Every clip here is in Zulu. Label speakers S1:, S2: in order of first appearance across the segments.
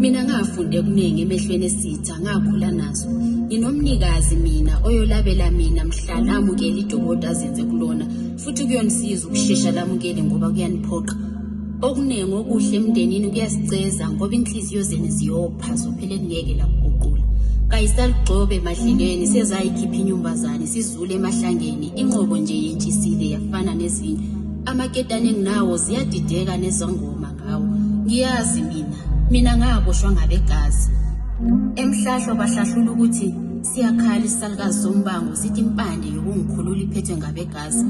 S1: Mina ngafunde kuningi emehlweni esitha ngakhula nazo. Nginomnikazi mina oyolabela mina mhla lamukela idokoti azenze kulona futhi kuyonisiza ukushesha lamukele ngoba kuyaniphoqa. Okuningi okuhle emndenini kuyasiceza ngoba inhliziyo zenu ziyopha zophela kungeke lakuguqula. Kayisalugxobe emadlelweni sezayikhipha inyumbazane sizule emahlangeni inqobo nje yentshisile yafana nezinye. Amaketane enginawo ziyadideka nezangoma. Hawu, ngiyazi mina. Mina ngakushwa ngabegazi. Emhlahlo bahlahlula ukuthi siyakhala isalukazi sombango sithi impande yokungikhulula iphethwe ngabegazi.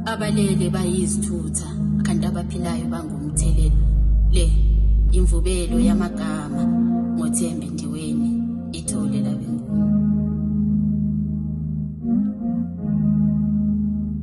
S1: Abalele bayizithutha kanti abaphilayo bangumthelela. Le imvubelo yamagama ngoThembi Ndiweni ithole labengoma.